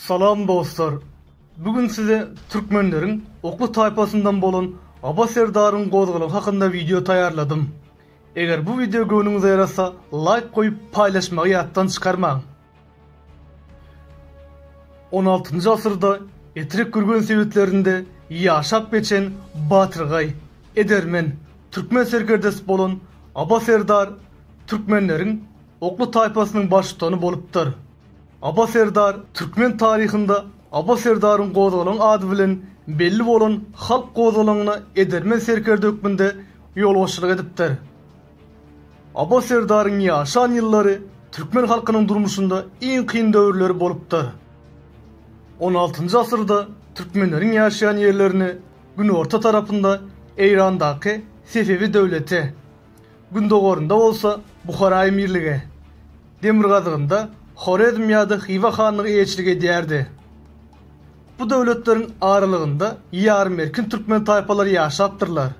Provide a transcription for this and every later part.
Salam dostlar! Bu gün size türkmenleriň Okly taýpasyndan bolan Aba serdaryň gozgalaňy hakynda wideo taýýarladym. Eger bu wideo göwnüňize ýarasa, laýk goýup, paýlaşmagy ýatdan çykarmaň! On altynjy asyrda Etrek Gürgen sebitlerinde ýaşap geçen batyrgaý, edermen, türkmen serkerdesi bolan Aba serdar türkmenleriň Okly taýpasynyň baştutany bolupdyr. Aba serdar türkmen taryhynda Aba serdaryň gozgalaň ady bilen belli bolan halk gozgalaňyna edermen serkerde hökmünde ýolbaşçylyk edipdir. Abbas serdaryň ýaşan ýyllary türkmen halkynyň durmuşynda iň kyn döwürleri bolupdyr. On altynjy asyrda türkmenleriň ýaşaýan ýerlerini günorta tarapynda Eýrandaky Sefewi döwleti, gündogarynda bolsa Buhara emirligi, demirgazygynda Horezm ýa-da Hywa hanlygy eýeçilik edýärdi. Bu döwletleriň aralygynda ýarym erkin türkmen taýpalary ýaşapdyrlar.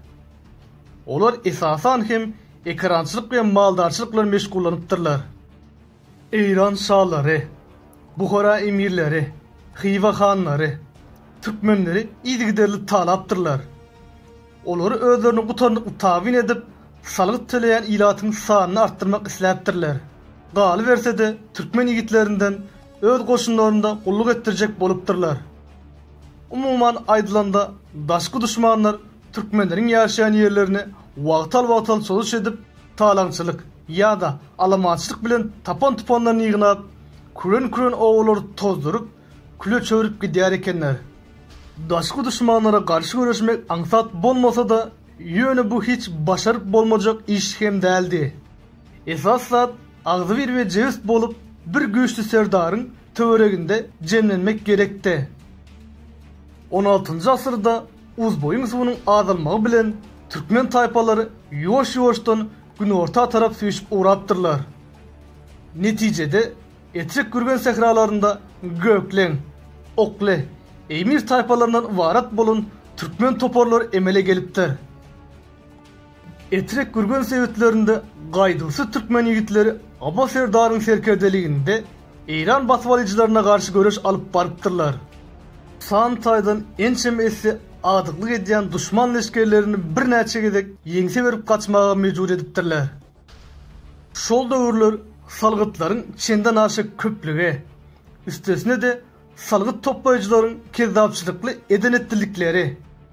Olar esasan hem ekerançylyk we maldarçylyk bilen meşgullanypdyrlar. Eýran şalary, Buhara emirleri, Hywa hanlary türkmenleri yzygiderli talapdyrlar. Olar özlerini gutarnykly tabyn edip, salgyt töleýän ilatyň sanyny artdyrmak isläpdirler. Galyberse-de, türkmen ýigitlerinden öz goşunlarynda gulluk etdirjek bolupdyrlar. Umuman aýdylanda, daşky duşmanlar türkmenleriň ýaşaýan ýerlerini wagtal-wagtal çozuş edip, talaňçylyk ýa-da alamançylyk bilen tapan-tupanlaryny ýygnap, küren-küren obalary tozduryp, küle çöwrüp gidýär ekenler. Daşky duşmanlara garşy göreşmek aňsat bolmasa-da, ýöne bu hiç başaryp bolmajak iş hem däldi. Esasy zat, Agzybir we jebis bolup, bir güýçli serdaryň töwereginde jemlenmek gerekdi. On altynjy asyrda Uzboýuň suwunyň azalmagy bilen türkmen taýpalary ýuwaş-ýuwaşdan günorta tarap süýşüp ugrapdyrlar. Netijede, Etrek Gürgen sähralarynda Gökleň, Okle, Eýmir taýpalaryndan ybarat bolan türkmen toparlary emele gelipdir. Etrek Gürgen sebitlerinde gaýduwsyz türkmen ýigitleri Aba serdaryň serkerdeliginde eýran basybalyjylaryna garşy göreş alyp barypdyrlar. San taýdan ençeme esse agdyklyk edýän duşman leşgerlerini birnäçe gezek ýeňse berip gaçmaga mejbur edipdirler. Şol döwürler salgytlaryň çendenaşa köplügi, üstesine-de Salgyt toplaýjylaryň kezzapçylykly eden-etdilikleri,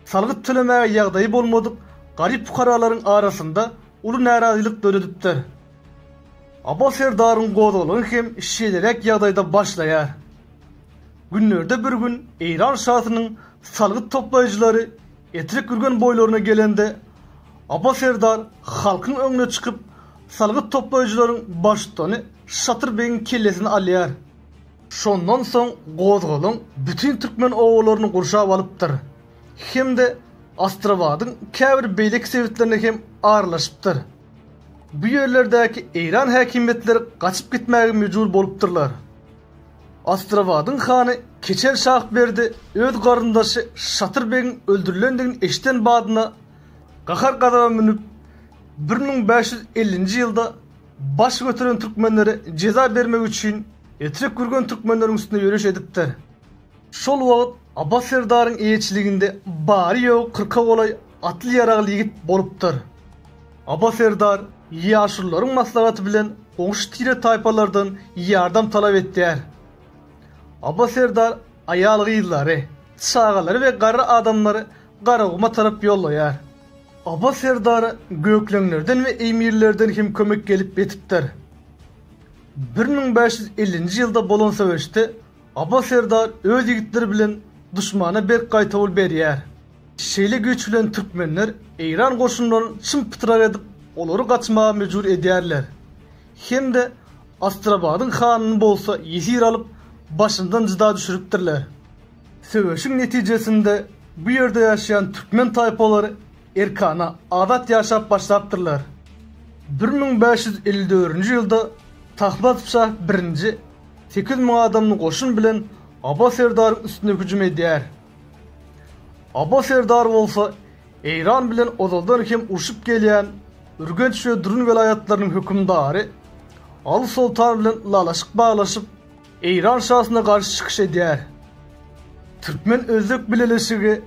salgyt tölemäge ýagdaýy bolmadyk garyp-pukaralaryň arasynda uly närazylyk döredipdir. Aba serdaryň gozgalaňy hem şeýleräk ýagdaýda başlaýar. Günlerde bir gün Eýran şasynyň salgyt toplaýjylary Etrek ürgen boýlaryna gelende, Aba serdar halkyň öňüne çykyp, salgyt toplaýjylaryň baştutany Şatyr begiň kellesini alýar. Şondan soň gozgalaň bütin türkmen obalaryny gurşap alypdyr hem-de Astrabadyň käbir beýleki sebitlerine hem aralaşypdyr. Bu ýerlerdäki eýran häkimiýetleri gaçyp gitmäge mejbur bolupdyrlar. Astrabadyň hany Keçel Şahberdi öz garyndaşy Şatyr begiň öldürilendigini eşiden badyna gahar-gazaba münüp, bir müň bäş ýüz ellinji ýylda baş göteren türkmenlere jeza bermek üçin, Etrek Gürgen türkmenleriň üstüne ýöriş edipdir. Şol wagt Abbas serdaryň eýeçiliginde bary-ýogy kyrka golaý atly-ýaragly ýigit bolupdyr. Abbas serdar ýaşulularyň maslahaty bilen goňşy tire-taýpalardan ýardam talap etýär. Abbas serdar aýal-gyzlary, çagalary we garry adamlary Garaguma tarap ýollaýar. Abbas serdara gökleňlerden we eýmirlerden hem kömek gelip ýetipdir. Bir müň bäş ýüz ellinji ýylda bolan söweşde Aba serdar öz ýigitleri bilen duşmana berk gaýtawul berýär. Şeýle güýç bilen türkmenler eýran goşunlaryny çym-pytrak edip, olary gaçmaga mejbur edýärler. Hem-de Astrabadyň hanyny bolsa ýesir alyp, başyndan jyda düşüripdirler. Söweşiň netijesinde bu ýerde ýaşaýan türkmen taýpalary Erkana, azat ýaşap başlapdyrlar. Bir müň bäş ýüz elli dördünji ýylda Tahmasp şah birinji sekiz ýüz müň adamly goşun bilen Aba serdaryň üstüne hüjüm edýär. Aba serdar bolsa Eýran bilen ozaldan hem urşup gelýän Ürgenç we Durun welaýatlarynyň hökümdary Aly soltan bilen ylalaşyk baglaşyp, Eýran şasyna garşy çykyş edýär. Türkmen-özbek bileleşigi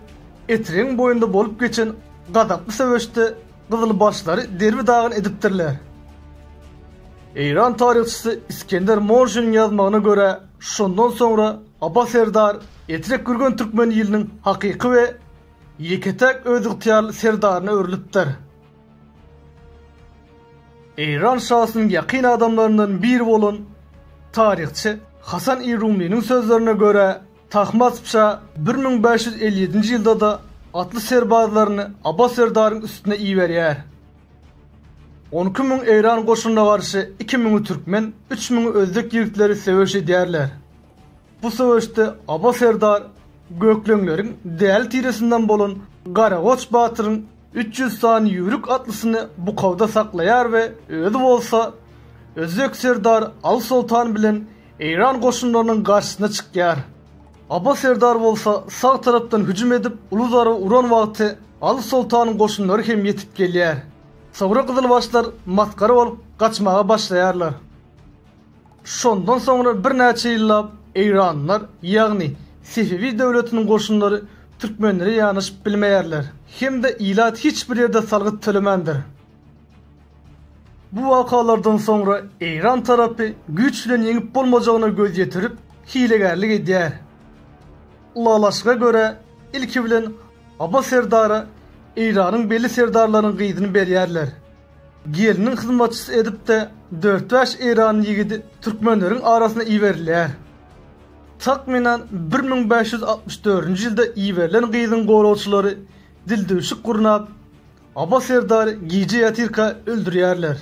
Etregiň boýunda bolup geçen gazaply söweşde gyzylbaşlary derbi-dagyn edipdirler. Eýran taryhçysy Iskender Morjiniň ýazmagyna görä, şondan soňra Aba serdar Etrek gürgen türkmen iliniň hakyky we ýeke-täk özygtyýarly serdaryna öwrülipdir. Eýran şasynyň ýakyn adamlaryndan biri bolan taryhçy Hasan I Rumliniň sözlerine görä, Tahmasp şa bir müň bäş ýüz elli ýedinji ýylda-da atly serbazlaryny Abbas serdaryň üstüne iberýär. On iki müň eýran goşunyna garşy iki müňi türkmen, üç müňi özbek ýigitleri söweş edýärler. Bu söweşde Abbas serdar gökleňleriň däli tiresinden bolan Garagoç batyryň Üç ýüz sany ýüwrük atlysyny bukawda saklaýar we özi bolsa özbek serdary Al Soltan bilen eýran goşunlarynyň garşysyna çykýar. Aba serdar bolsa sag tarapdan hüjüm edip, uly zarba uran wagty Al Soltanyň goşunlary hem ýetip gelýär. Soňra gyzylbaşlar masgara bolup gaçmaga başlaýarlar. Şondan soňra birnäçe ýyllap eýranlylar, ýagny Sefewi döwletiniň goşunlary türkmenlere ýanaşyp bilmeýärler. Hem-de ilat hiç bir ýerde salgyt tölemändir. Bu wakalardan soňra eýran tarapy güýç bilen ýeňip bolmajagyna göz ýetirip, hilegärlik edýär. Ylalaşyga görä, ilki bilen Aba serdara eýranyň belli serdarlarynyň gyzyny berýärler. Gelniň hyzmatçysy edip-de dört-bäş eýranly ýigidi türkmenleriň arasyna iberilýär. Takmynan bir müň bäş ýüz altmyş dördünji ýylda iberilen gyzyň goragçylary dildüwşük gurnap, Aba serdary gije ýatyrka öldürýärler.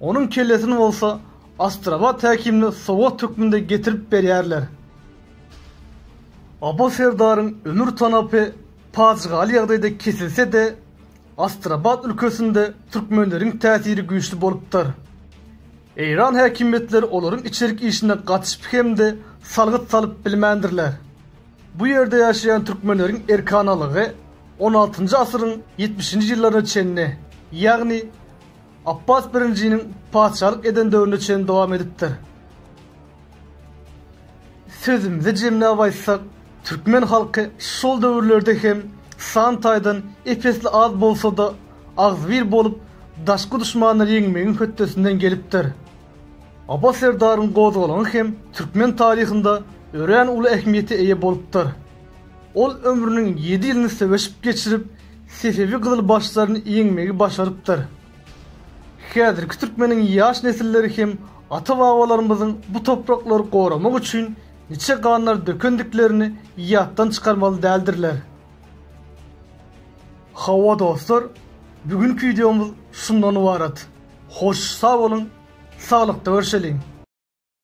Onuň kellesini bolsa Astrabat häkimine sowgat hökmünde getirip berýärler. Aba serdaryň ömür tanapy pajygaly ýagdaýda kesilse-de, Astrabat ülkesinde türkmenleriň täsiri güýçli bolupdyr. Eýran häkimiýetleri olaryň içerik işine gatyşyp hem-de salgyt salyp bilmändirler. Bu ýerde ýaşaýan türkmenleriň erkanalygy on altynjy asyryň ýetmişinji ýyllaryna çenli, ýagny Apbas I-niň patyşalyk eden döwrüne çenli dowam edipdir. Sözümizi jemläp aýtsak, türkmen halky şol döwürlerde hem san taýdan ep-esli az bolsa-da, agzybir bolup, daşky duşmanlary ýeňmegiň hötdesinden gelipdir. Aba serdaryň gozgalaňy hem türkmen taryhynda örän uly ähmiýete eýe bolupdyr. Ol ömrüniň ýedi ýylyny söweşip geçirip, sefewi gyzylbaşlaryny ýeňmegi başarypdyr. Häzirki türkmeniň ýaş nesilleri hem ata-babalarymyzyň bu topraklary goramak üçin niçe ganlar dökendiklerini ýatdan çykarmaly däldirler. Hawa dostlar, bu günki wideomyz şundan ybarat. Hoş, sag boluň, saglykda görşeliň!